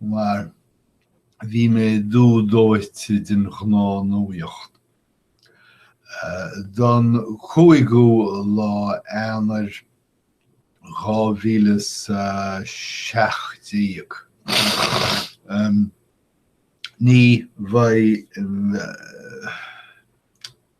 mar bhí mé dubh dóite den ghnáthnuaíocht. Don 5ú lá Eanáir 2017, ní bheidh.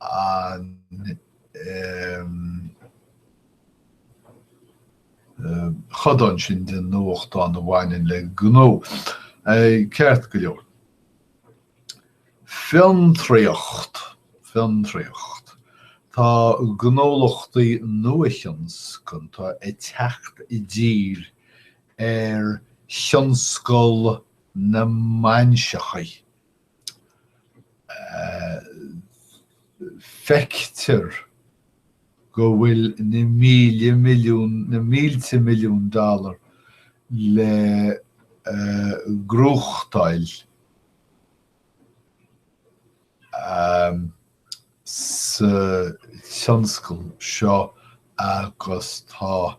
an codán sin den nuachtán a bhaineann le gnó, ceart go leor. Fiontraíocht, fiontraíocht. Tá gnólachtaí nuathionscanta ag teacht i dtír ar thionscal na mbainseachaí. feictear go bhfuil na míle milliún, na mílte milliún dollar le gnóthachtáil sa tionscal seo agus tá.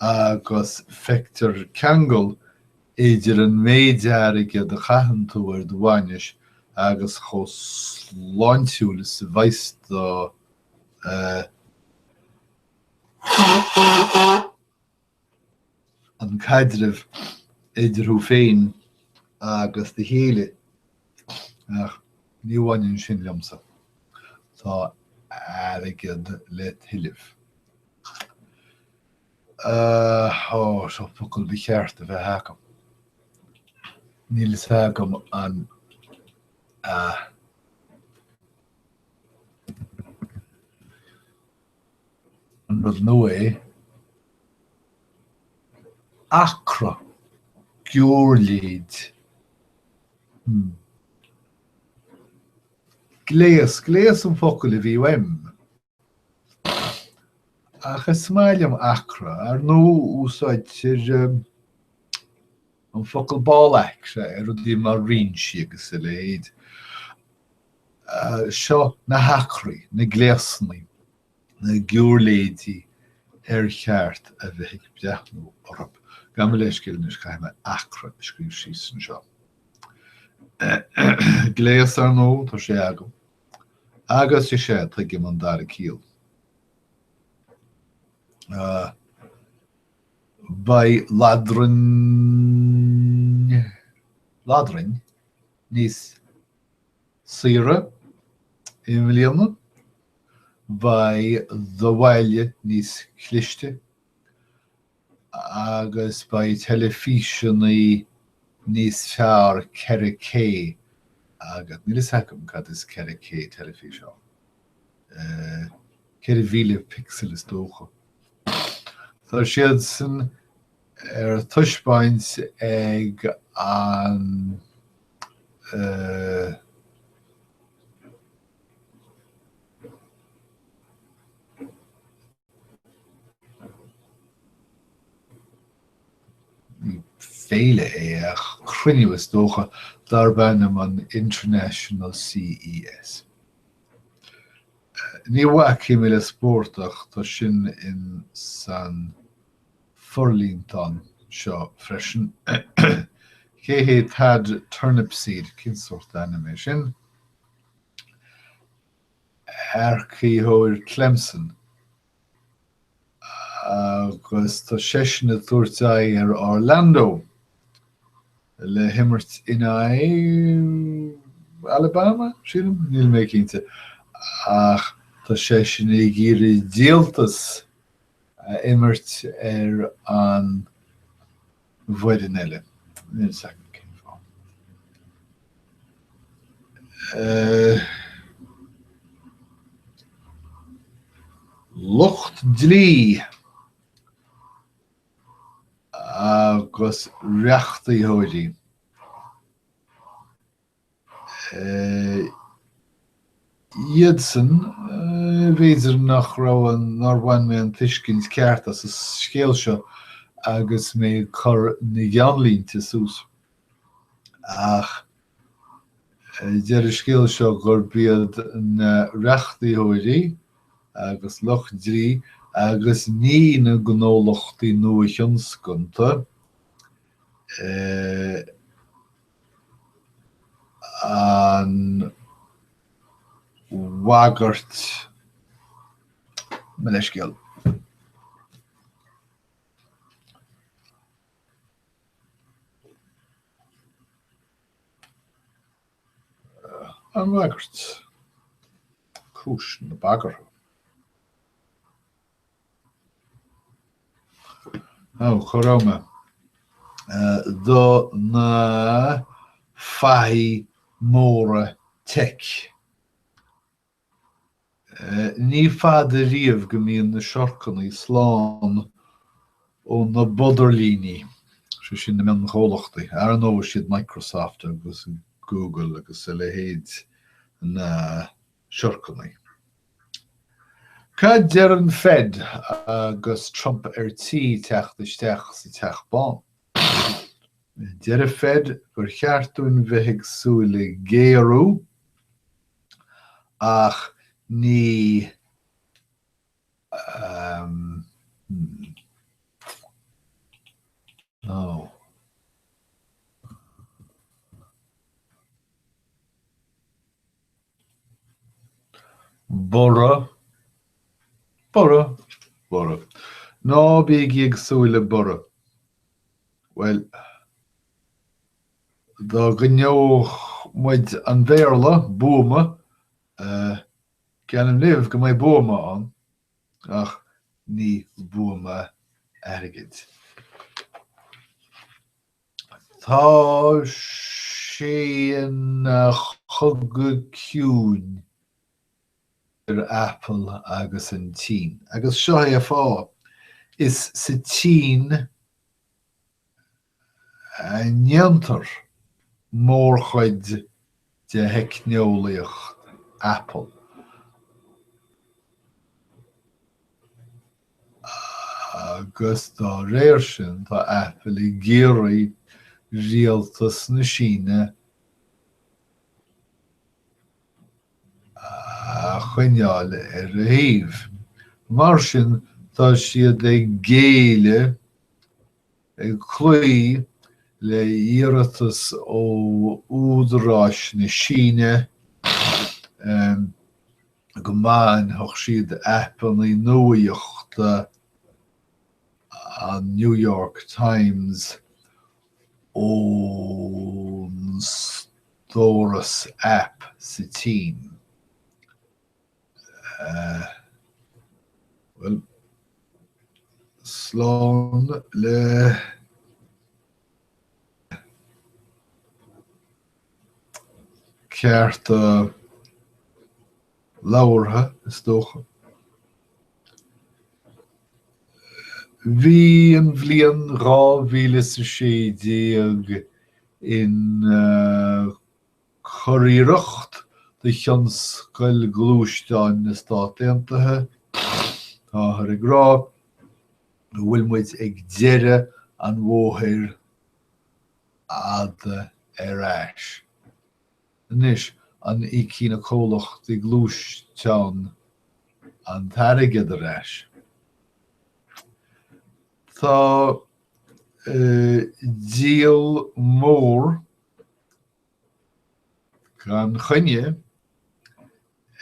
agus feictear ceangal idir an méid airgid a chaitheann tú ar do bhainis agus chomh sláintiúil is a bheas do an caidreamh idir thú féin agus do chéile, ach ní bhaineann sin liomsa, tá airgead le tuilleamh. Ó, seo focal ba cheart a bheith agam. Níl a fhios agam an, an rud nua é? Acra? Giúirléid? Hm. Gléas, gléas an focal a bhí uaim. Ach is maith liom acra, ar ndóigh úsáidtear an focal ball-acra ar rudaí mar rinsí agus a leithéid. Seo na hacraí, na gléasanna, na giúirléidí ar cheart a bheith ag breathnú orthu. Gabh mo leithscéal anois, caithfidh mé acra a scríobh síos anseo. Gléas, ar ndóigh, tá sé agam. Agus is ea, tuigim an dara ciall. Beidh ladra, ladrainn níos saoire i mbliana, beidh do bhaile níos cliste, agus beidh teilifíseannaí níos fearr 4K agus níl fhios agam cad is 4K teilifís ann, 4000 pixel is dócha. Tá siad sin ar taispeáint ag an eh. féile é, cruinniú is dócha, darb ainm an International CES. Ní bhacfaidh mé le spórt ach tá sin in san forlíontán seo freisin. Cé hé Thad Turnipseed? Cén sórt ainm é sin? earcaitheoir Clemson agus tá seisean ag tabhairt aghaidh ar Orlando le himirt in aghaidh Alabama, sílim? Níl mé cinnte ach tá seisean ag iarraidh díoltas a imirt ar an bhfoireann eile. Níl 's agam cén fáth. Lucht dlí agus reachtaitheoirí. iadsan, b'fhéidir nach raibh an, nár bhain mé an tuiscint ceart as an scéal seo agus mé ag cur na gceannlínte suas. Ach deir an scéal seo gurb iad na reachtaitheoirí agus lucht dlí agus ní na gnólachtaí nua-thionscanta a. an bhagairt mo leithscéal. an bhagairt, cúis na bagartha. Ó, cha rabh mé. do na fathaigh móra teic. Ní fada riamh go mbíonn na siorcannaí slán ó na bodairlíní, sé sin na mionchomhlachtaí, ar ndóigh, siad Microsoft agus Google agus a leithéid na Shorcanaí. Cad deir an Fed agus Trump ar tí teacht isteach sa Teach Bán? Deir an Fed gur cheart dúinn bheith ag súil le géarú ach ní Borradh, borradh, borradh. Ná bígí ag súil le borradh. Bhuel, dá gcoinneodh muid an Bhéarla, buama, geallaim daoibh go mbeidh buama ann, ach ní buama airgid. Tá sé ina chogadh ciúin idir Apple agus an tSín, agus seo é a fáth, is sa tSín a ndéantar mórchuid de theicneolaíocht Apple agus dá réir sin tá Apple ag iarraidh rialtas na Síne a choinneáil ar a thaobh. Mar sin tá siad ag géilleadh Ag cloí le hiarratas ó údaráis na Síne go mbainfeadh siad aipeanna nuachta an New York Times ón stóras aip sa tSín, Bhuel, slán le cearta labhartha, is dócha. Bhí an bhliain dhá mhíle is a sé déag in Churiarracht do thionscal gluaisteán na Stát Aontaithe, táthar ag rá go bhfuil muid ag deireadh an bhóthair fhada ar ais. Anois, an íocfaidh na comhlachtaí gluaisteán an t-airgead ar ais? Tá díol mór Gan choinne,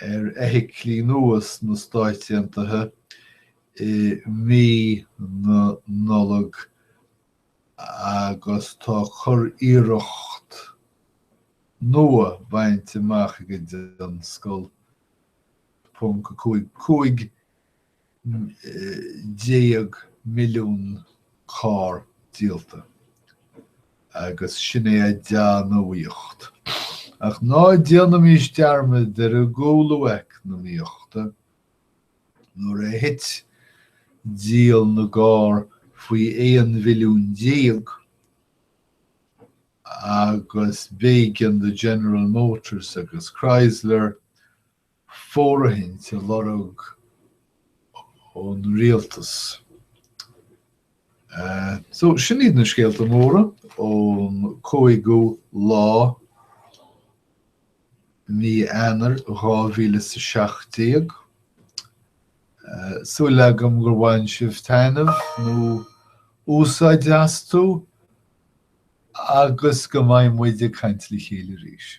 ar fheithiclí nua sna Stáit Aontaithe i mí na Nollag agus tá curiarracht nua bainte amach ag an dtionscal. ponc a cúig cúig. déag milliún carr díolta agus sin é an dea-nuaíocht. Ach ná déanaimis dearmad ar an gcúlú eacnamaíochta, nuair a thit díol na gcarr faoi 11 mhilliún agus b'éigean do General Motors agus Chrysler, fóirithint a lorg ón rialtas. So, sin iad na scéalta móra ón 5ú lá mí Eanáir 2017. Súil agam gur bhain sibh taitneamh nó úsáid astu agus go mbeidh muid ag caint le chéile arís.